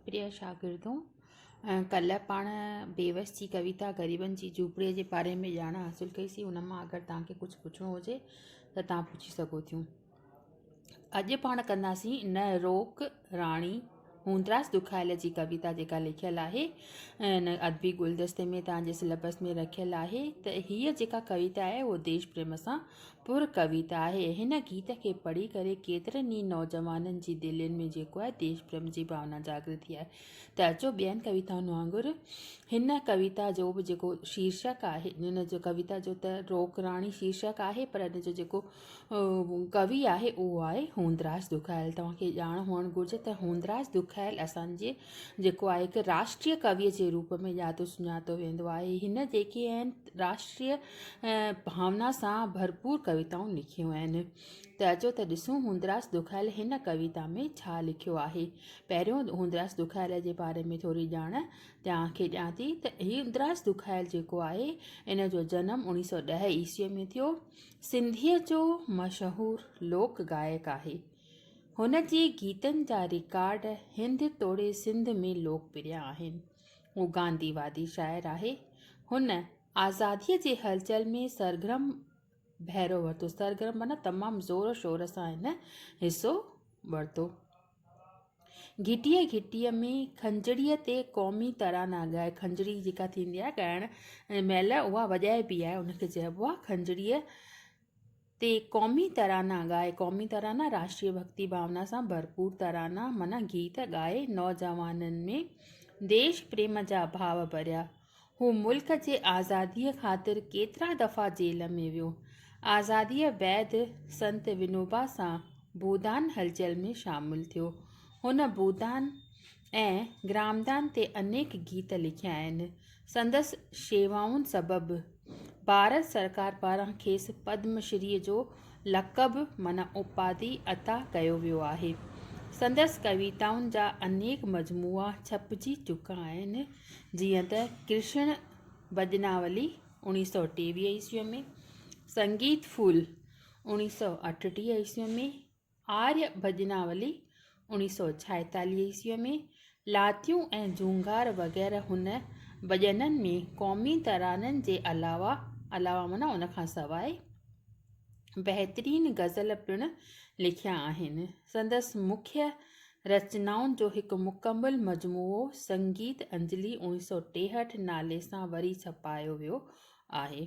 پريا شاگردو! ڪلهه پاڻ بيوس جي ڪويتا غريبن جي جهوپڙيء جي باري ۾ ڄاڻ حاصل ڪئي سي، ان مان اگر توهان کي ڪجهه پڇڻو هجي ته توهان پڇي سگهو ٿيون. اڄ پاڻ ڪنداسين ان روڪ راڻي هوندراز ڏکايل جي ڪويتا جيڪا لکيل آهي ان ادبي گلدستي ۾ توهان جي سليبس ۾ رکيل آهي ته هيء جيڪا ڪويتا آهي اهو ديش پريم سان پر ڪويت آهي. هن گيت کي پڙهي ڪري ڪيترن ئي نوجوانن جي دلين ۾ جيڪو آهي ديش پريم جي ڀاونا جاڳري ٿي آهي ته اچو ٻين ڪويتائن وانگر هن ڪويتا جو به جيڪو شيرشڪ آهي هن جو ڪويتا جو ته روڪراڻي شيرشڪ آهي پر هن جو جيڪو ڪوي آهي اهو آهي هوندراج دکايل توهان کي ڄاڻ هئڻ گهرجي ته هوندراج دکايل اسانجي جيڪو آهي هڪ راشٽري ڪويء جي روپ ۾ ڄاتو سڃاتو ويندو آهي هن جيڪي آهن راشٽري ۽ ڀاونا سان ڀرپور ڪويتائون لکيون آهن ته اچو ته ڏسون هوندراس ڏکايل هن ڪويتا ۾ ڇا لکيو آهي. پهريون هوندراس ڏکايل جي باري ۾ ٿوري ڄاڻ توهان کي ڏيان ٿي ته هوندراس ڏکايل جيڪو آهي ان جو جنم اڻيهه سؤ ڏهه عيسويء ۾ ٿيو. سنڌيء جو مشهور لوڪ گائڪ آهي. هن جي گيتن جا رڪارڊ هند توڙي سنڌ ۾ لوڪ پريا آهن. هو گاندي وادي شاعر آهي. هن آزاديء جي هلچل ۾ سرگرم ڀيرو ورتو. سرگرم معنيٰ تمام زور و شور سان هن حصو ورتو. گهٽيء گهٽيء ۾ کنجڙيء تي قومي ترانا ڳائي، کنجڙي جيڪا ٿيندي آهي ڳائڻ مهل اها وڄائبي آهي، ان کي چئبو آهي کنجڙيء تي قومي ترانا ڳائي قومي ترانا راشٽري ڀڳتي ڀاونا سان ڀرپور ترانا معنيٰ گيت ڳائي نوجوانن ۾ ديش پريم جا ڀاو ڀريا هو ملڪ جي آزادي خاطر ڪيترا دفعا جيل ۾ ويو آزادي بعد سنت ونوبا سان بودان هلچل ۾ شامل ٿيو هن بودان ۽ گرامدان تي انيڪ گيت لکيا آهن. سندس شيوائن سبب ڀارت سرڪار پاران کيس پدم شري جو لقب معنيٰ اپاڌي عطا ڪيو ويو آهي. سندس ڪويتائن جا انيڪ مجموعا ڇپجي چڪا آهن، جيئن ته ڪرشڻ ڀڄناولي، اوڻيهه سؤ ٽيويهه عيسويء ۾، سنگيت ڦول، اوڻيهه سؤ اٺٽيهه عيسويء ۾، آريا ڀڄناولي، اوڻيھ سؤ ڇائيتاليھ عيسويء ۾، لاتيون ۽ جهونگار وغيره هن ڀڄنن ۾ قومي ترانن جي علاوه علاوه معنيٰ ان کان سواء بهترين غزل پڻ لکيا آهن. سندس مکيه رچنائن جو هڪ مڪمل مجموعو سنگيت انجلي اوڻيھ سؤ ٽيهٺ نالي سان وري ڇپايو ويو آهي.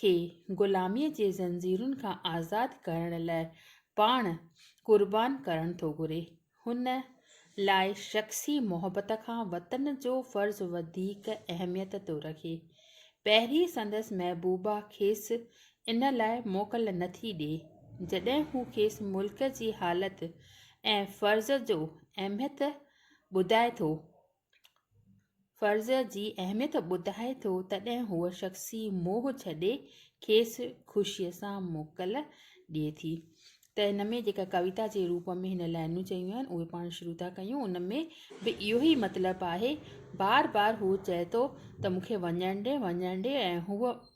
کي غلاميء جي زنجيرن کان آزاد ڪرڻ لاء پاڻ قربان ڪرڻ ٿو گهري. هن لاء شخصي محبت کان وطن جو فرض وڌيڪ اهميت ٿو رکي. پهرين سندس محبوبا کيس ان لاء موڪل نه ٿي ڏئي. جڏهن هو کيس ملڪ جي حالت ۽ فرض جو اهميت ٻڌائي ٿو فرض جي اهميت ٻڌائي ٿو تڏهن هوء شخصي موهه ڇڏي کيس خوشيء سان موڪل ڏئي ٿي ته هن ۾ جيڪا ڪويتا جي روپ ۾ هن لائينون چيون آهن اهي پاڻ شروع ٿا ڪيون ان ۾ به اهو ئي مطلب آهي بار بار هو چئي ٿو ته مون کي وڃڻ ڏي وڃڻ ڏي ۽ هوء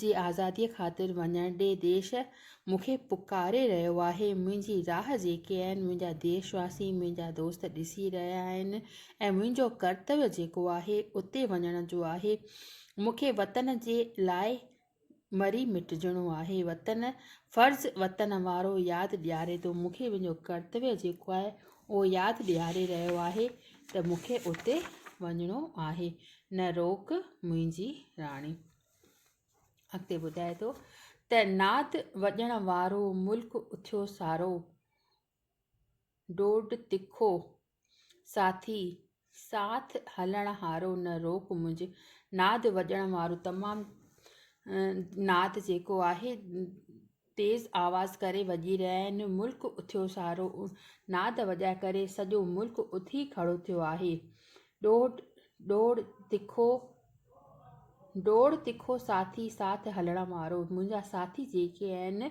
جي آزاديء خاطر وڃڻ ڏي، ديش مون کي پڪاري رهيو آهي، منهنجي راهه جيڪي آهن، منهنجا ديش واسي، منهنجا دوست ڏسي رهيا آهن ۽ منهنجو ڪرتويو جيڪو آهي، اتي وڃڻ جو آهي. مون کي وطن جي لاء مري مٽجڻو آهي. وطن، فرض وطن وارو ياد ڏياري ٿو، مون کي منهنجو ڪرتويو جيڪو آهي، اهو ياد ڏياري رهيو آهي ته مون کي اتي وڃڻو آهي نه روڪ منهنجي راڻي. اڳتي ٻڌائي ٿو ته ناد وڄڻ وارو ملڪ اٿيو سارو، ڊوڙ تکو ساٿي ساٿ هلڻ هارو نه روڪ منهنج. ناد وڄڻ وارو تمام ناد جيڪو آهي تيز آواز ڪري وڄي رهيا آهن ملڪ اٿيو سارو ناد وڄائي ڪري سڄو ملڪ اٿي کڙو ٿيو آهي ڏوڙ ڏوڙ تکو ڊوڙ تکو ساٿي ساٿ هلڻ وارو منهنجا ساٿي جيڪي آهن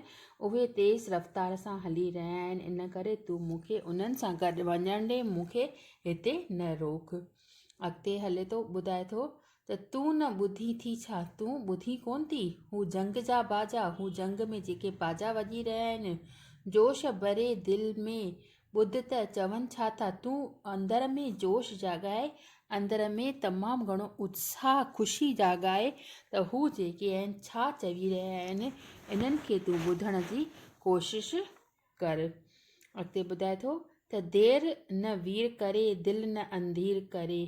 اهي تيز رفتار سان هلي رهيا آهن ان ڪري تون مون کي انهن سان گڏ وڃڻ ڏي مون کي هتي نه روڪ اڳتي هلي ٿو ٻڌائي ٿو ته تون نه ٻڌي ٿي ڇا تون ٻڌي ڪون ٿي هو جنگ جا باجا هو جنگ ۾ جيڪي باجا وڄي رهيا آهن جوش ڀري دل ۾ ٻڌ ته چون ڇا ٿا، تون اندر ۾ جوش جاڳائي، اندر ۾ تمام گهڻو اتساهه، خوشي جاڳائي ته هو جيڪي آهن ڇا چوي رهيا آهن، انهن کي تون ٻڌڻ جي ڪوشش ڪر. اڳتي ٻڌائي ٿو ته دير نه وير ڪري، دل نه انڌير ڪري،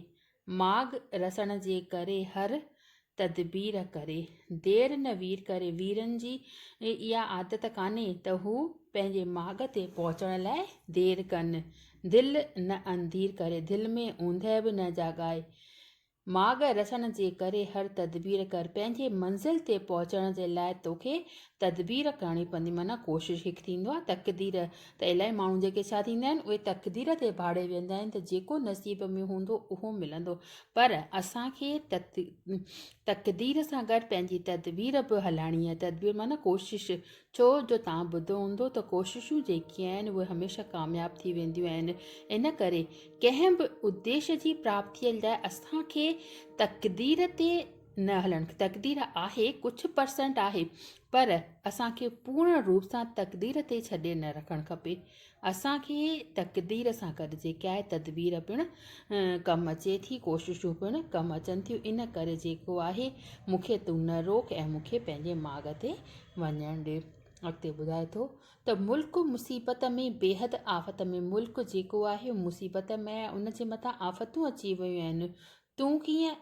ماڳ رسڻ جي ڪري هر تدبير ڪري. دير نه وير ڪري. ويرن جي اها عادت ڪانهي ته هو پنهنجي ماڳ تي پهچڻ لاء دير ڪن. دل نه انڌير ڪري. دل ۾ اوندهه به نه جاڳائي. ماڳ رسڻ جي ڪري هر تدبير ڪر. پنهنجي منزل تي پهچڻ جي لاء توکي تدبير ڪرڻي پوندي معنيٰ ڪوشش هڪ ٿيندو آهي تقدير ته الائي ماڻهو جيڪي ڇا ٿيندا آهن اهي تقدير تي ڀاڙي ويهندا آهن ته جيڪو نصيب ۾ هوندو اهو ملندو پر اسان کي تقدير سان گڏ پنهنجي تدبير به هلائڻي آهي تدبير معنيٰ ڪوشش ڇو جو توهان ٻڌو هوندو ته ڪوششون جيڪي آهن اهي هميشه ڪامياب ٿي وينديون آهن ان ڪري ڪنهن به اديش جي پراپتيء لاء اسان کي تقدير تي نه هلڻ تقدير آهي ڪجهه پرسنٽ آهي پر اسان کي پورن روپ سان تقدير تي ڇڏي نه رکڻ کپي اسان کي تقدير سان گڏ جيڪي آهي تدبير پڻ ڪم اچي ٿي ڪوششون پڻ ڪم اچن ٿيون ان ڪري جيڪو آهي مونکي تون نه روڪ ۽ مونکي پنهنجي ماڳ تي وڃڻ ڏي اڳتي ٻڌائي ٿو ته ملڪ مصيبت ۾ بيحد آفت ۾ ملڪ جيڪو آهي مصيبت ۾ ان جي مٿان آفتون اچي ويون آهن تون ڪيئن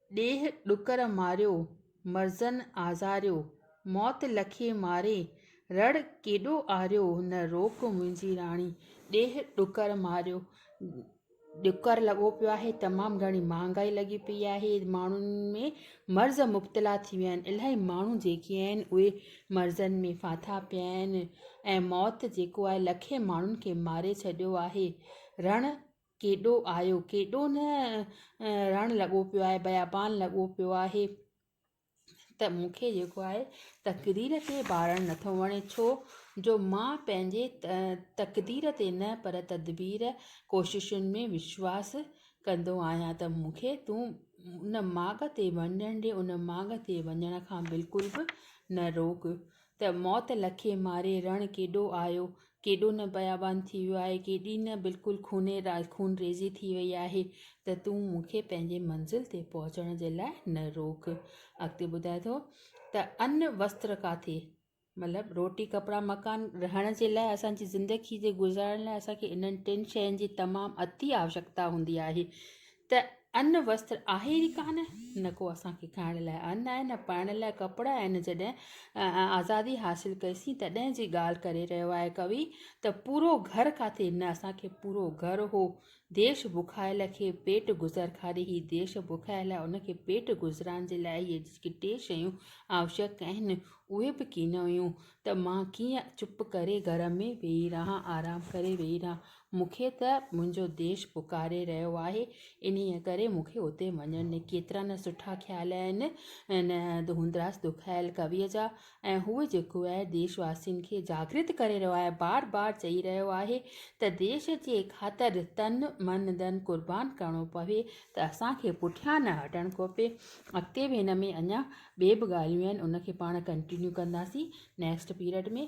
ڏيهه ڏڪر ماريو، مرضن آزاريو، موت لکي ماري، رڙ ڪيڏو آريو، نه روڪ منهنجي راڻي، ڏيهه ڏڪر ماريو. ڏڪر لڳو پيو آهي، تمام گهڻي مهانگائي لڳي پيئي آهي، ماڻهن ۾ مرض مبتلا ٿي ويا آهن، الاهي ماڻهو جيڪي آهن اهي مرضن ۾ ڦاٿا پيا آهن ۽ موت جيڪو آهي لکين ماڻهن کي ماري ڇڏيو آهي، رڻ ڪيڏو آيو، ڪيڏو نه رڻ لڳو پيو آهي، بيابان لڳو پيو آهي ته مون کي جيڪو آهي تقدير کي ڀاڙڻ نٿو وڻي ڇو جو مان پنهنجي تقدير تي نه پر تدبير ڪوششن ۾ وشواس ڪندو آهيان ته مون کي تون ان ماڳ تي وڃڻ ڏي ان ماڳ تي وڃڻ کان بلڪل به نه روڪ ته موت لکي ماري رڻ ڪيڏو آيو، ڪيڏو نه بيابان ٿي ويو آهي، ڪيڏي نه بلڪل خوني خونريزي ٿي وئي آهي ته تون مون کي پنهنجي منزل تي پهچڻ جي لاء نه روڪ. اڳتي ٻڌائي ٿو ته ان وستر ڪاٿي مطلب روٽي ڪپڙا مڪان رهڻ جي لاء اسان جي زندگي جي گذارڻ لاء اسان کي انهن ٽن شين جي تمام اٿي آوشڪتا هوندي آهي ته ان وسطر آهي ئي ڪانه، نه ڪو اسان کي کائڻ لاء ان آهي، نه پائڻ لاء ڪپڙا آهن، جڏهن آزادي حاصل ڪئيسين تڏهن جي ڳالهه ڪري رهيو آهي ڪوي ته پورو گهر ڪاٿي، نه اسان کي پورو گهر هو، ديش بکايل کي پيٽ گذر کاري هي ديش بکايل آهي ان کي پيٽ گذران جي لاء هي جيڪي ٽي شيون آوشڪ آهن اهي به ڪين هيون ته مان ڪيئن چپ ڪري گهر ۾ ويهي رهان آرام ڪري ويهي رهان. مون کي ته منهنجو ديش پڪاري رهيو آهي، انهيء ڪري مون کي اتي وڃڻ ڏي. ڪيترا نه سٺا خيال آهن هن هوندراس ڏکايل ڪويء جا ۽ هو جيڪو آهي ديش واسين کي جاگرت ڪري رهيو آهي، بار بار چئي رهيو آهي ته ديش جي خاطر تن، من، ڌن قربان ڪرڻو پوي ته اسان کي پٺيان نه هٽڻ کپي. اڳتي به هن ۾ اڃا ٻي به ڳالهيون آهن ان کي پاڻ ڪنٽينيو ڪنداسين نيڪسٽ پيرڊ ۾.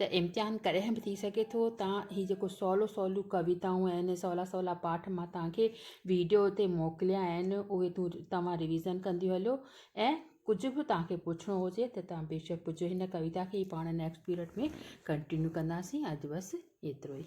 ته امتحان ڪڏهن به ٿي سگهي ٿو تان هي جيڪو سولو سوليون ڪويتائون آهن سولا سولا پاٺ مان توهان کي ويڊيو تي موڪليا آهن اهي تون توهان ريويزن ڪنديون هليو ۽ ڪجهه به توهان کي پڇڻو هجي ته توهان بيشڪ پڇو هن ڪويتا کي پاڻ نيڪسٽ پيريڊ ۾ ڪنٽينيو ڪنداسين اڄ بس ايترو ئي